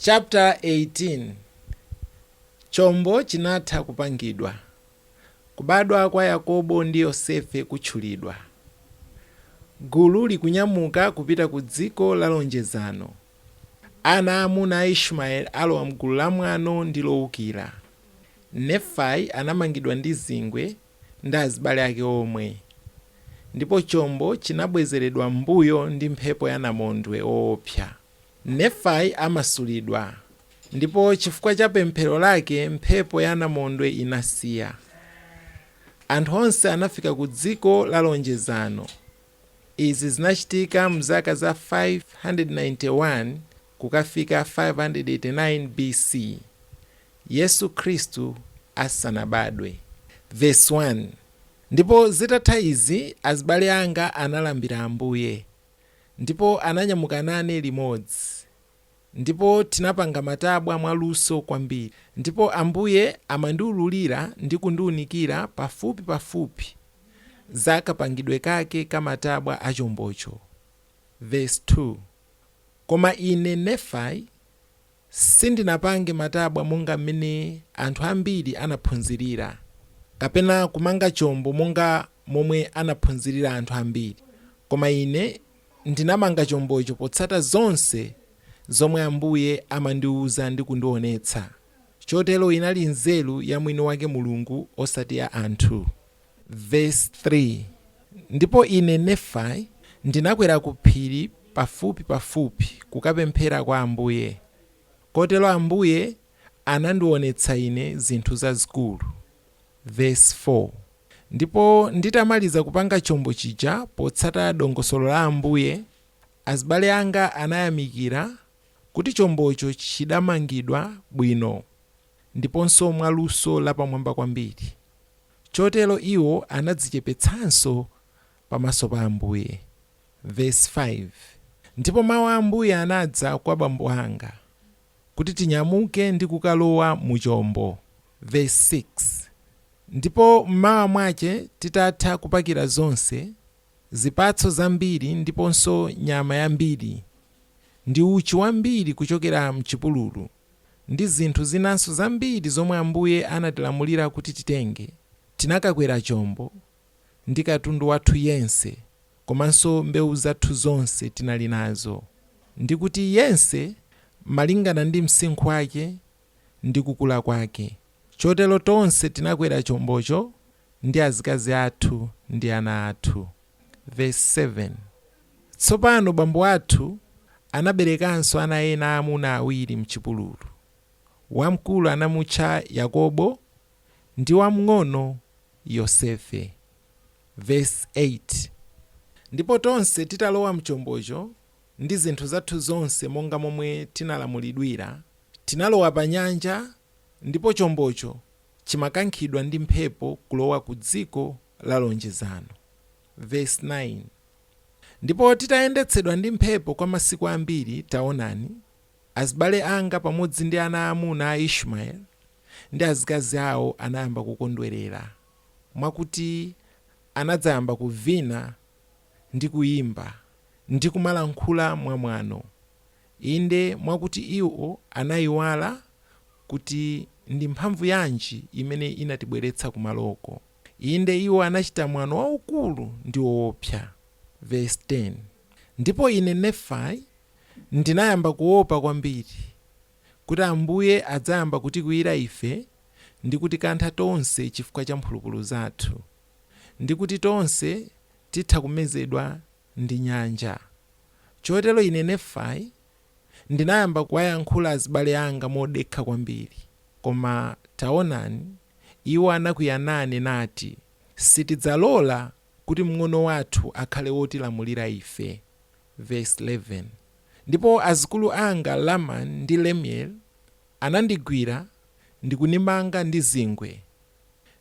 Chapter 18 Chombo chinatha kupangidwa Kubadwa kwa Yakobo ndi Yosefe kutchulidwa Gulu likunyamuka kupita ku dziko la lonjezano Ana aamuna a Ishumaeli alowa m'gulu la mwano ndi loukira Nefai anamangidwa ndi zingwe ndi azibale ake omwe Ndipo chombo chinabwezeredwa m'mbuyo ndi mphepo ya namondwe woopsa Nefai amasulidwa, ndipo chifukwa cha pemphero lake mphepo ya namondwe inasiya. Anthu onse anafika ku dziko la lonjezano. Izi zinachitika mzaka za 591 kukafika 589 BC, Yesu Khristu asanabadwe. Vesi 1, Ndipo zitatha izi azibale anga analambira Ambuye. ndipo ananyamuka nane limodzi, ndipo tinapanga matabwa mwaluso kwambiri, ndipo Ambuye amandiululira ndi kundiunikira pafupi pafupi za kapangidwe kake ka matabwa a chombocho. Vesi 2, Koma ine, Nefai, Sindinapange matabwa monga mmene anthu ambiri anaphunzirira, kapena kumanga chombo monga momwe anaphunzirira anthu ambiri, koma ine ndinamanga chombocho potsata zonse zomwe Ambuye amandiuza ndi kundionetsa. Chotero inali nzeru ya mwini wake Mulungu osati ya anthu. Vesi 3, Ndipo ine, Nefai, ndinakwera ku phiri pafupi pafupi kukapemphera kwa Ambuye, kotero Ambuye anandiwonetsa ine zinthu zazikulu, vesi 4, Ndipo nditamaliza kupanga chombo chija potsata dongosolo la Ambuye, azibale anga anayamikira kuti chombocho chidamangidwa bwino ndiponso mwa luso lapamwamba kwambiri. Chotero iwo anadzichepetsanso pamaso pa Ambuye. Vesi 5, Ndipo mau a Ambuye anadza kwa bambo anga, kuti tinyamuke ndi kukalowa mu chombo, vesi 6, Ndipo m'mawa mwache titatha kupakira zonse, zipatso zambiri ndiponso nyama yambiri, ndi uchi wambiri kuchokera m'chipululu. ndi zinthu zinanso zambiri zomwe Ambuye anatilamulira kuti titenge, tinakakwera chombo ndi katundu wathu yense komanso mbewu zathu zonse tinali nazo, ndi kuti yense malingana ndi msinkhu wake ndi kukula kwake. Chotero tonse tinakwera chombocho ndi azikazi athu ndi ana athu. Vesi 7, Tsopano bambo athu anaberekanso ana ena aamuna awiri m'chipululu. Wamkulu anamutcha Yakobo ndi wamng'ono Yosefe. Vesi 8, Ndipo tonse titalowa m'chombocho ndi zinthu zathu zonse monga momwe tinalamulidwira, tinalowa panyanja ndipo chombocho chimakankhidwa ndi mphepo kulowa ku dziko la lonjezano, vesi 9, Ndipo titayendetsedwa ndi mphepo kwa masiku ambiri, taonani, azibale anga pamodzi ndi ana aamuna a Ishmaeli, ndi azikazi awo anayamba kukondwerera, mwakuti anadzayamba kuvina ndi kuyimba, ndi kumalankhula mwamwano, Inde, mwakuti iwo anaiwala kuti ndi mphamvu yanji imene inatibweretsa kumaloko. Inde, iwo anachita mwano waukulu ndi woopsa. Vesi 10, Ndipo ine, Nefai, ndinayamba kuopa kwambiri kuti Ambuye adzayamba kutikwiyira ife ndi kutikantha tonse chifukwa cha mphulupulu zathu, ndi kuti tonse titha kumezedwa ndi nyanja. Chotero ine, Nefai, ndinayamba kuwayankhula azibale anga modekha kwambiri, koma, taonani, iwo anakwiya nane nati, Sitidzalola kuti mng'ono wathu akhale wotilamulira ife. Vesi 11, Ndipo azikulu anga Lamani ndi Lemueli anandigwira ndi kundimanga ndi zingwe,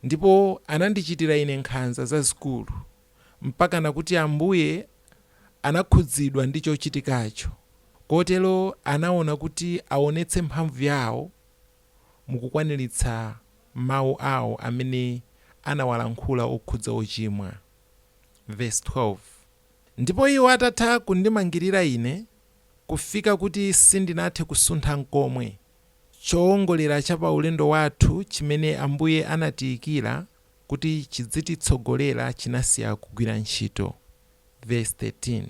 ndipo anandichitira ine nkhanza zazikulu. mpakana kuti Ambuye anakhudzidwa ndi chochitikacho kotero anaona kuti aonetse mphamvu yawo mu kukwaniritsa mawu awo amene anawalankhula okhudza ochimwa. Vesi 12, Ndipo iwo atatha kundimangirira ine kufika kuti sindinathe kusuntha nkomwe, choongolera cha pa ulendo wathu chimene Ambuye anatiikira kuti chidzititsogolera chinasiya kugwira ntchito, vesi 13.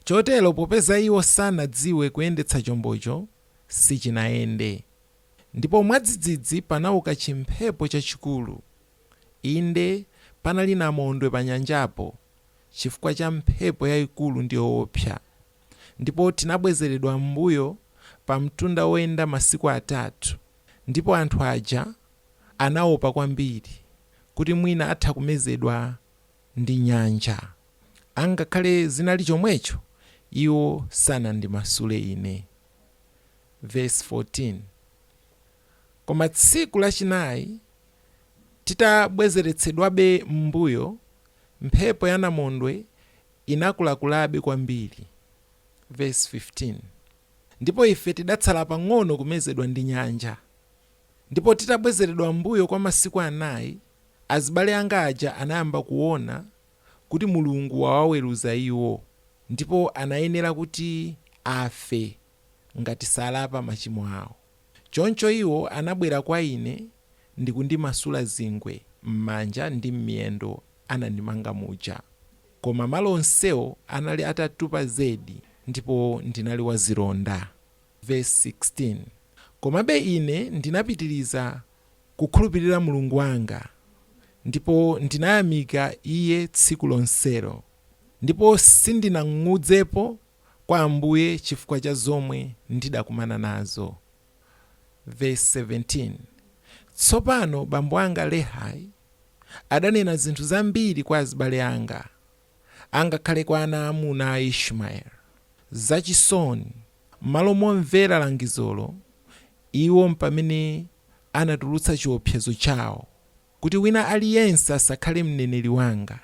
Chotero popeza iwo sanadziwe kuyendetsa chombocho, sichinayende. Ndipo mwadzidzidzi panauka chimphepo chachikulu. Inde, panali namondwe panyanjapo, chifukwa cha mphepo yaikulu ndi yowopsa. Ndipo tinabwezeredwa m'mbuyo pamtunda woyenda masiku atatu, ndipo anthu aja anaopa kwambiri kuti mwina atha kumezedwa ndi nyanja. Angakhale zinali chomwecho, iwo sanandimasule ine. Vesi 14, Koma tsiku lachinayi, titabwezeretsedwabe m'mbuyo, mphepo ya namondwe inakulakulabe kwambiri, vesi 15, ndipo ife tidatsala pang'ono kumezedwa ndi nyanja. Ndipo titabwezeredwa m'mbuyo kwa masiku anayi, azibale anga aja anayamba kuwona kuti Mulungu wawaweruza iwo, ndipo anayenera kuti afe ngati salapa machimo awo. Choncho iwo anabwera kwa ine ndikundimasula zingwe m'manja ndi m'miyendo anandimanga muja. Koma malo onsewo anali atatupa zedi ndipo ndinali wazilonda. Vesi 16, Komabe ine ndinapitiriza kukhulupirira Mulungu wanga, ndipo ndinayamika iye tsiku lonselo, ndipo sindinang'udzepo kwa Ambuye chifukwa cha zomwe ndidakumana nazo. Vesi 17, Tsopano bambo anga Lehai adanena zinthu zambiri kwa azibale anga. angakhale kwa ana aamuna a Ishmaeli. Zachisoni, m'malo momvera langizolo, iwo mpamene anatulutsa chiwopsezo chawo kuti, Wina aliyense asakhale mneneri wanga.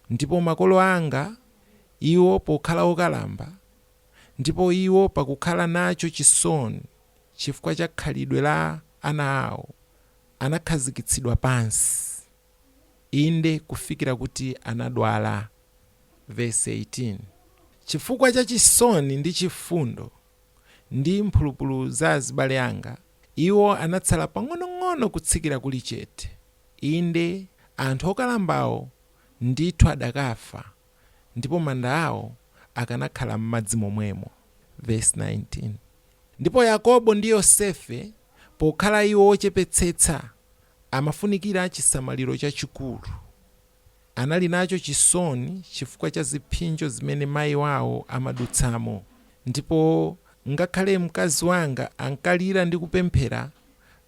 Ndipo makolo anga, iwo pokhala okalamba, ndipo iwo pakukhala nacho chisoni chifukwa cha khalidwe la ana awo, anakhazikitsidwa pansi. inde, kufikira kuti anadwala, vesi 18, Chifukwa cha chisoni ndi chifundo ndi mphulupulu za azibale anga, iwo anatsala pang'onong'ono kutsikira kuli chete, inde, anthu okalambawo ndithu adakafa, ndipo manda awo akanakhala m'madzi momwemo, vesi 19, Ndipo Yakobo ndi Yosefe, pokhala iwo ochepetsetsa, Amafunikira chisamaliro chachikulu. Anali nacho chisoni chifukwa cha ziphinjo zimene mayi wawo amadutsamo, ndipo ngakhale mkazi wanga ankalira ndi kupemphera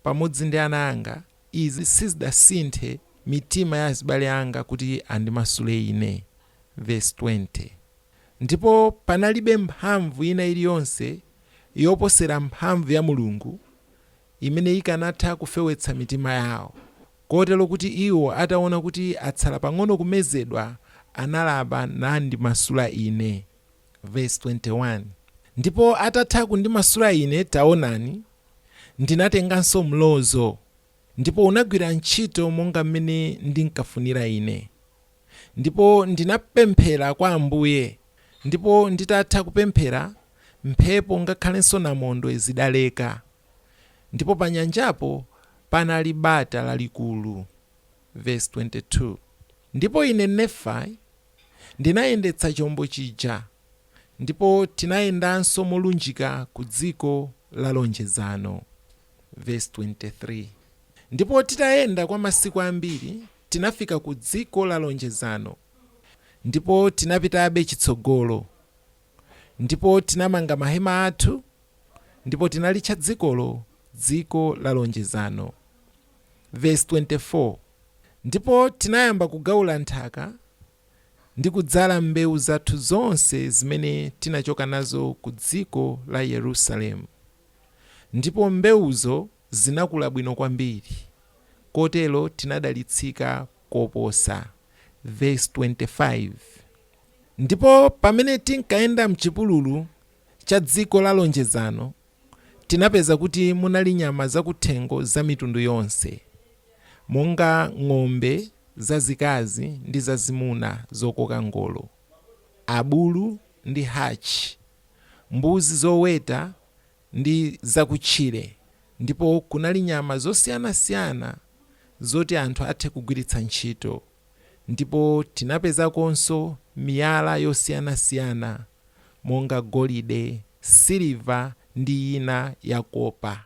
pamodzi ndi ana anga, izi sizidasinthe mitima ya azibale anga kuti andimasule ine. Vesi 20, Ndipo panalibe mphamvu ina iliyonse yoposera mphamvu ya Mulungu imene ikanatha kufewetsa mitima yawo, kotero kuti iwo, ataona kuti atsala pang'ono kumezedwa, analapa nandimasula ine. Vesi 21, Ndipo atatha kundimasula ine, taonani, ndinatenganso mlozo, ndipo unagwira ntchito monga mmene ndinkafunira ine. ndipo ndinapemphera kwa Ambuye, ndipo nditatha kupemphera, mphepo ngakhalenso namondwe zidaleka, ndipo panyanjapo panali bata lalikulu. Vesi 22, Ndipo ine, Nefai, ndinayendetsa chombo chija, ndipo tinayendanso molunjika ku dziko la lonjezano. Vesi 23. Ndipo titayenda kwa masiku ambiri, tinafika ku dziko la lonjezano, ndipo tinapitabe chitsogolo, ndipo tinamanga mahema athu, ndipo tinalitcha dzikolo dziko la lonjezano. Vesi 24, Ndipo tinayamba kugaula nthaka, ndi kudzala mbewu zathu zonse zimene tinachoka nazo ku dziko la Yerusalemu, ndipo mbewuzo. Zinakula bwino kwambiri kotero tinadalitsika koposa, vesi 25. Ndipo pamene tinkayenda m'chipululu cha dziko la lonjezano, tinapeza kuti munali nyama zakuthengo za mitundu yonse, monga ng'ombe zazikazi ndi zazimuna zokoka ngolo, abulu ndi hatchi, mbuzi zoweta, ndi zakutchire ndipo kunali nyama zosiyanasiyana zoti anthu athe kugwiritsa ntchito ndipo tinapezakonso miyala yosiyanasiyana monga golide, siliva ndi ina ya kopa.